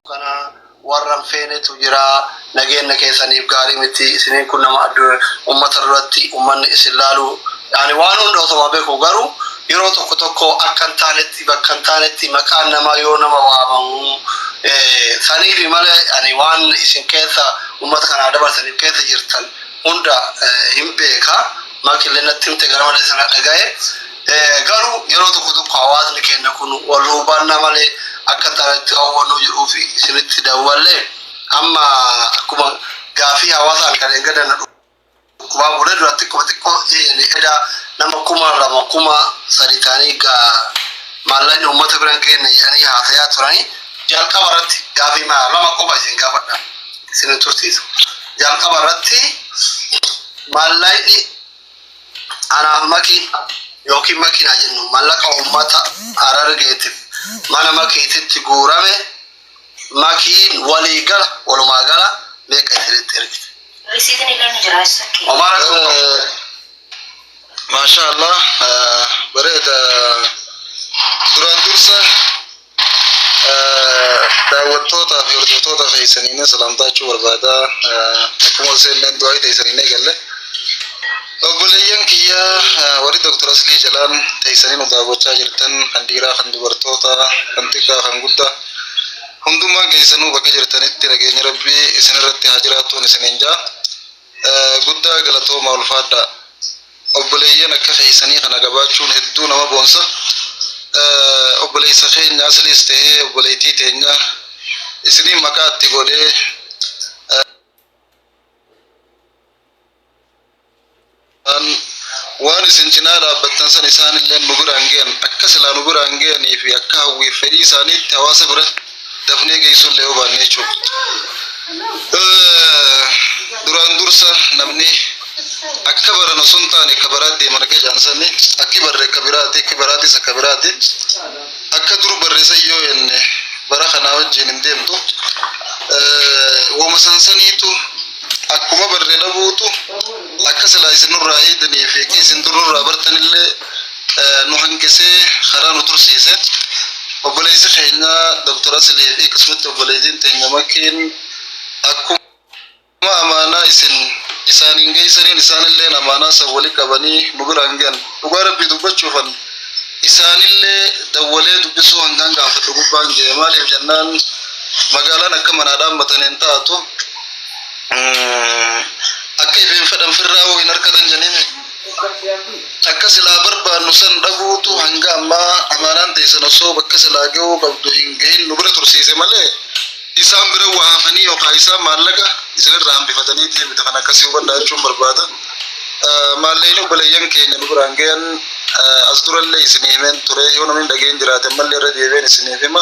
kana warran feenetu jira nageenya keessaniif gaarii miti isiniin kun nama addunyaa ummata duratti ummanni isin laalu ani waan hunda osoma beeku garuu yeroo tokko tokko akka hin taanetti bakka hin taanetti maqaan namaa yoo nama waamamu eh, saniifi malee ani waan isin keessa Ummata kanaa dabarsani keessa jirtan hunda hin beeka maqi illee natti himte gara malee sana dhagaye garu yeroo tokko tokko hawaasni keenna kun wal hubanna male akka taanatti hawwannu jedhuuf isinitti dawwalle amma akkuma gaafii hawaasaan kan eeggadana Waa bulee duraan xiqqoo xiqqoo eda nama kuma lama kuma sadi ta'anii maallaqni uummata biraan keenya jedhanii haasayaa turanii jalqaba irratti gaafii maa lama qofa isin gaafadha isin hin tursiisu. Jalqaba irratti maallaqni anaaf makii yookiin makiinaa jennu maallaqa uummata harargeetiif mana makiititti guurame Makiin walii gala walumaa gala meeqa isinitti ergite? Risiitiin illee ni jira eessa kee? Homaa rakkoo hin qabu. Maashaa Allah eh, bareeda duraan dursa eh, daawwattootaa fi hordoftoota keessaniin salaamtaachuu barbaada Eh, akkuma seeneen du'aa ta'e isaniin eegalle. Obboleeyyan kiyya warri Dr. Aslii jalaan teessanii nu daawwachaa jirtan kan dhiiraa kan dubartootaa kan xiqqaa kan guddaa hundummaan keessanuu bakka jirtanitti nageenyi rabbii isinirratti haa jiraatuun isiniin jaa guddaa galatooma ulfaadhaa obboleeyyan akka keessanii kana gabaachuun hedduu nama boonsa obboleessa keenya asliis ta'ee obboleettii teenya isiniin maqaatti godhee An waan isin cinaa dhaabbattan san isaan illee nu biraan ge'an akka silaa nu biraan ge'anii fi akka hawwiif fedhii isaaniitti hawaasa bira dafnee geessuu illee yoo baanne jechuudha. Duraan dursa namni akka baran osoo hin taane akka baraa deeman akka jedhan sani akki barre akka biraati akki baraatis akka biraati akka dur barreessan yoo jenne bara kanaa wajjin hin deemtu. Woma sansaniitu Akkuma barre dhabuutu akka silaa isin nurraa eegdanii fi akka isin dur nurraa bartanillee nu hanqisee karaa nu tursiise. Obboleessi keenya Dr. Asilee fi akkasumatti obboleettiin teenya makkeen akkuma amaanaa isin isaaniin geessaniin isaanillee amaanaa san wali qabanii nu biraan gahan. Dhugaa rabbii dubbachuufan isaanillee dawwalee dubbisuu hangaan gaafadhu gubbaan ga'e maaliif jennaan magaalaan akka manaa dhaammataniin taatu. Akka ifeen fedhan firraa'uu hin arkatan janiin akka silaa barbaannu san dhabuutu hanga ammaa amaanaan teessan osoo bakka silaa ga'uu qabdu hin gahin nu bira tursiise malee isaan bira waa hafanii yookaan isaan maallaqa isinirraa hambifatanii deemte kan akkasii hubadhaa jechuun barbaada. Maalleen obboleeyyan keenya nu biraan gahan as durallee isinii himeen ture yoo namni dhageen jiraate ammallee irra deebi'een isiniif hima.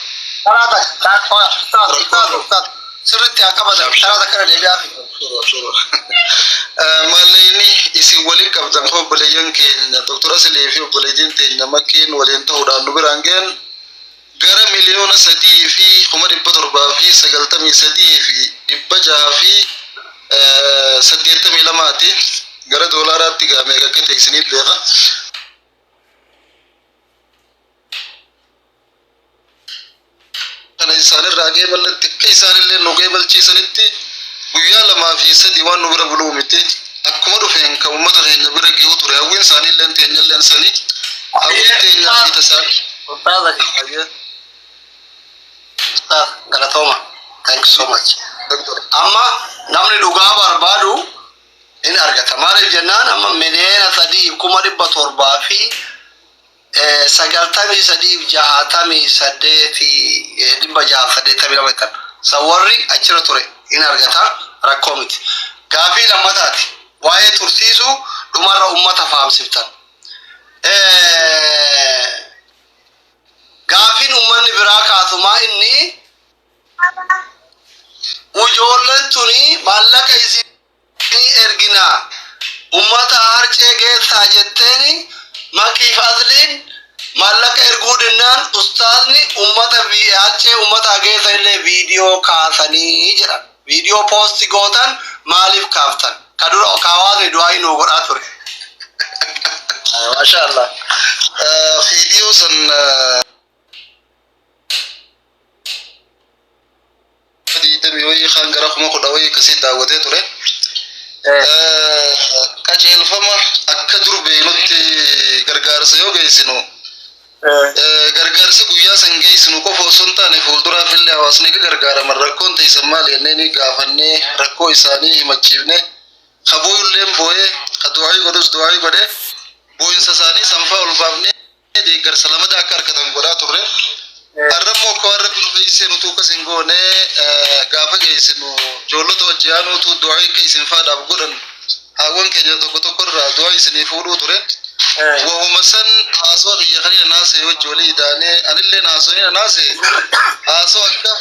Karaa takka karaa qofa ustaaz ustaaz ustaaz sirriitti haa qabatan karaa takka irra deebi'aa fi. Mallayni isin waliin qabdan kun obboleeyyan keenya doktora Silee fi obboleeyyiin teenya makkeen waliin ta'uudhaan nu biraan ga'an gara miliyoona sadii fi kuma dhibba torbaa fi sagaltamii sadii fi dhibba jaha fi eh, saddeettamii lamaati gara doolaaraatti gaamee akka ta'e isiniif beeka. kana isaanirraa qeeballetti akka isaanillee nu qeebalchiisanitti guyyaa lamaa fi sadi waan nu bira buluu miti akkuma dhufeen kan uummata keenya bira gihuu ture hawwiin isaaniillee teenyallee sanii hawwiin teenyaa fi tasaan Ustaaza fi Hayyee. Ustaaz galatooma. Thank you so much. Doktor. Amma namni dhugaa barbaadu hin argata. Maaliif jennaan amma miliyoona sadii kuma dhibba torbaa fi sagaltamii sadii fi jahaatamii saddeeti dhibba jaha saddeettamii lama ittan san warri achirra ture in argata rakkoo miti gaafii lammataati waa'ee tursiisuu dhumarra ummata faamsiftan gaafiin ummanni biraa kaasumaa inni ujoolleen tuni maallaqa isii ni ergina ummataa harcee geessaa jetteeni makiif asliin maallaqa erguu dinnaan ustaazni ummata harcee ummataa geessa illee viidiyoo kaasanii jedhan viidiyoo poosti gootan maaliif kaaftan ka dura kaawaasni du'aayii nuu godhaa ture maashaa allah viidiyoo san digdamii wayii kan gara kuma kudha wayii akkasii daawwatee ture. Qajeelfama akka dur beeknutti gargaarsa yoo geessinu gargaarsi guyyaa san geessinu qofa osoo hin taane fuulduraaf illee hawaasni akka gargaaraman rakkoon teessan maal jennee gaafannee rakkoo isaanii himachiifne ka booyulleen booyee ka du'aayii godhus du'aayii godhee booyinsa isaanii sanfaa ol baafnee. deeggarsa lamataa akka argatan godhaa turre. Har'a immoo akka waan rabbi nu geessisee nutuu akkas hin goone gaafa geessinu ijoollota hojii aanuutu du'aa akka isin faadhaaf godhan haawwan keenya tokko tokko irraa du'aa isinii fuudhuu ture. Wahuma san haasoo biyya kanina naasee hojii walii idaanee anillee naasoo nina naasee haasoo akka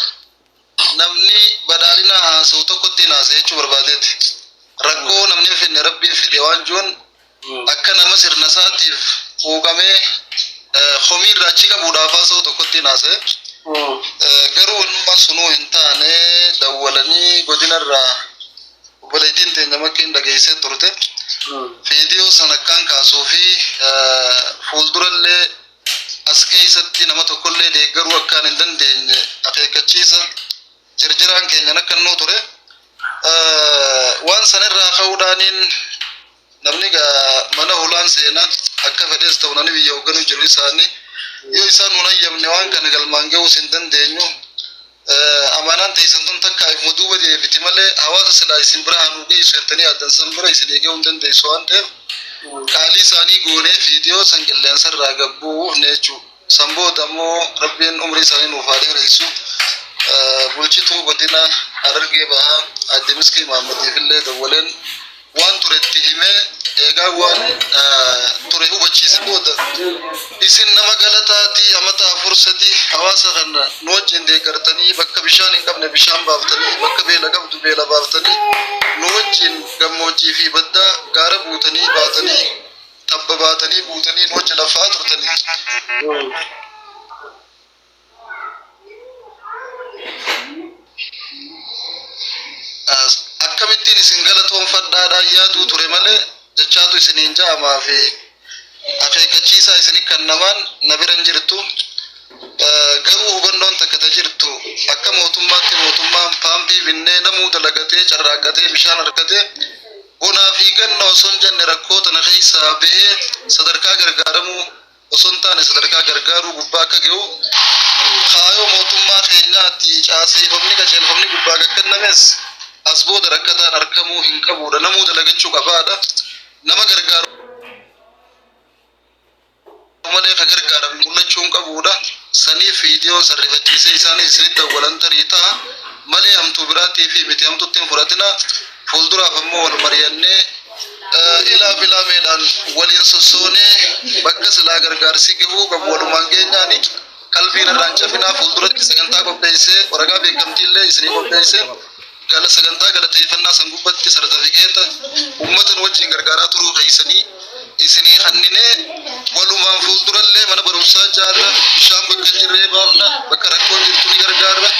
Namni badhaadhina haasa'u tokkotti hin haasa'e jechuu barbaadeeti. Rakkoo namni hin fidne rabbiin fide waan jiruun akka nama sirna isaatiif quuqamee eh, komii irraa achi qabuudhaaf haasa'u tokkotti hin haasa'e. Eh, Garuu wanummaan sunuu hin taane dawwalanii godina irraa obboleettiin teenya makkeen dhageessee turte. Viidiyoo sana akkaan kaasuu fi eh, fuuldurallee as keessatti nama tokkollee deeggaruu akkaan hin dandeenye akeekkachiisa jirjiraan keenya nakkannoo ture. Waan sanirraa ka'uudhaaniin namni mana holaan seena akka fedhees ta'u namni biyya hoogganuu jiru isaanii yoo isaan hin hayyamne waan kana galmaan ga'uus hin dandeenyu. Amaanaan teessan tun takkaa ifuma duuba deebiti malee hawaasa silaa isin bira haa nuu geessu jettanii yaaddan san bira isin eegee hin dandeessu waan ta'eef qaalii isaanii goonee viidiyoo san qilleensa irraa gabbuufne jechuudha. San booda immoo rabbiin umrii isaanii nuuf haa dheeressu. Bulchituu godina Harargee bahaa aadde Miskii Maammadiif illee dawwaleen waan ture itti himee eegaa waan ture hubachiise booda isin nama galataatii amata afur sadii hawaasa kana nu wajjin deeggartanii bakka bishaan hin qabne bishaan baaftanii bakka beela qabdu beela baaftanii nu wajjin gammoojjii fi baddaa gaara buutanii baatanii tabba baatanii buutanii nu wajjin lafaa turtanii akkamittiin isin galatoonfadhaadhaan yaaduu ture malee jechaatu isiniin ja'amaa fi akeekkachiisaa isin kannamaan na bira hin jirtu. Garuu hubannoon takka ta jirtu akka mootummaatti mootummaan paampii binnee namuu dalagatee carraaqqatee bishaan argatee bonaa fi ganna osoo hin jenne rakkoo tana keessaa bahee sadarkaa gargaaramuu osoo hin taane sadarkaa gargaaruu gubbaa akka ga'u kaayoo mootummaa keenyaatti caaseeffamni qajeelfamni gubbaa akka kennames as booda rakkataan argamuu hin qabuudha namuu dalagachuu qabaadha nama gargaaru malee ka gargaarame mul'achuu hin qabuudha saniif viidiyoon sarrifachiisee isaanis isinitti awwalantarii ta'a malee hamtuu biraatii fi miti hamtuutti hin fudhatina Fuulduraaf ammoo wal mari'annee ilaa filaameedhaan waliin sossoonee bakka silaa gargaarsi gahuu qabu walumaan geenyaan qalbiin irraan cafinaa fuulduratti sagantaa qopheessee waraqaa beekamtii illee isinii qopheessee gala sagantaa galateeffannaa san gubbatti sartifikeeta uummatan wajjin gargaaraa turuu keessanii isinii kanninee walumaan fuuldurallee mana barumsaa jaarra bishaan bakka hin jirree baafna bakka rakkoon jirtu ni gargaarra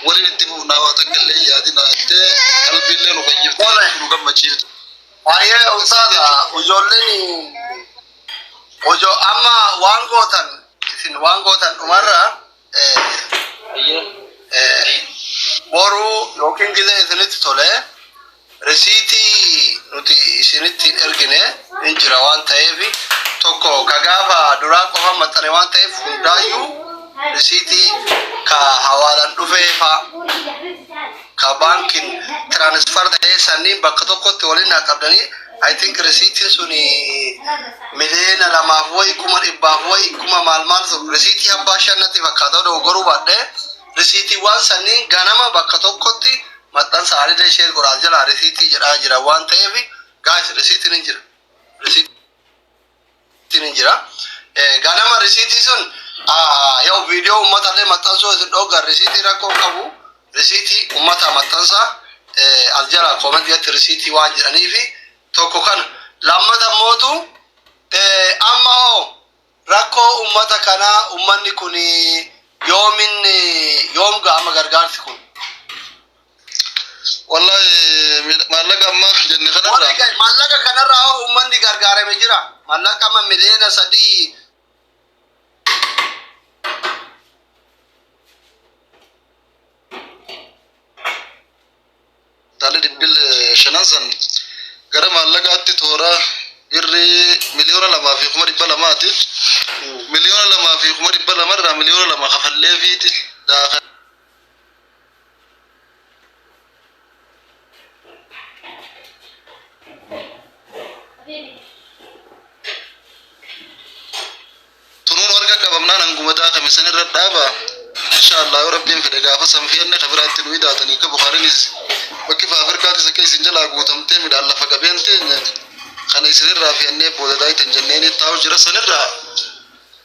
waliin itti fufnaa waa takka illee yaadina jettee qalbiillee nu fayyifte nu gammachiifte. Baay'ee ulfaata ijoolleen hojoo amma waan gootan isin waan gootan dhumarra Boru yookiin gizee isinitti tole risiitii nuti isinitti hin ergine hin jira waan ta'eef tokko ka gaafa duraa qofa maxxane waan ta'eef hundaayyuu risiitii ka hawaalaan dhufee faa ka baankiin tiraanisfar ta'ee sanniin bakka tokkotti waliin naa qabdanii I think risiitiin sun miliyoona lamaaf wayi kuma dhibbaaf wayi kuma maal maal sun risiitii abbaa shan natti fakkaata odoo goruu baadhee risiitiiwwan sanniin ganama bakka tokkotti maxxansa haalida ishee godhaa jira risiitii jedhaa jira waan ta'eef gaas risiitiin hin jira. Risiitii ittiin hin jira. Eh, Ganama risiitii sun ah, yoo viidiyoo uummata illee maxxansuu isin dhooggan risiitii rakkoo hin qabu. Risiitii uummata maxxansa eh, as jala koomentii irratti risiitii waan jedhanii fi tokko kana. Lammata mootu eh, amma hoo rakkoo uummata kanaa uummanni kun yoomin eh, yoom ga'ama gargaarsi kun? Wallahi mil- maallaqa ammaaf jenne Warri kanarraa ga- maallaqa kanarraa hoo uummanni gargaarame jira. Maallaqa amma miliyoona sadii taalli dhibbil shanan san gara maallaqaatti toora birrii miliyoona lamaa fi kuma dhibba lamaati. Miliyoona lamaa fi kuma dhibba lamarraa miliyoona lama kafalleefiiti daakan. tunuun warga qabamnaan hanguma daakame san irra dhaaba insha allah yoo rabbiin fedhe gaafa san feenne ka biraatti nu idaatanii ka bukaarinis bakki fa afrikaattis akka isin jalaa guutamtee midhaan lafa qabeen teenya kana isinirraa feennee booda daaytan jenneen taa'u jira sanirraa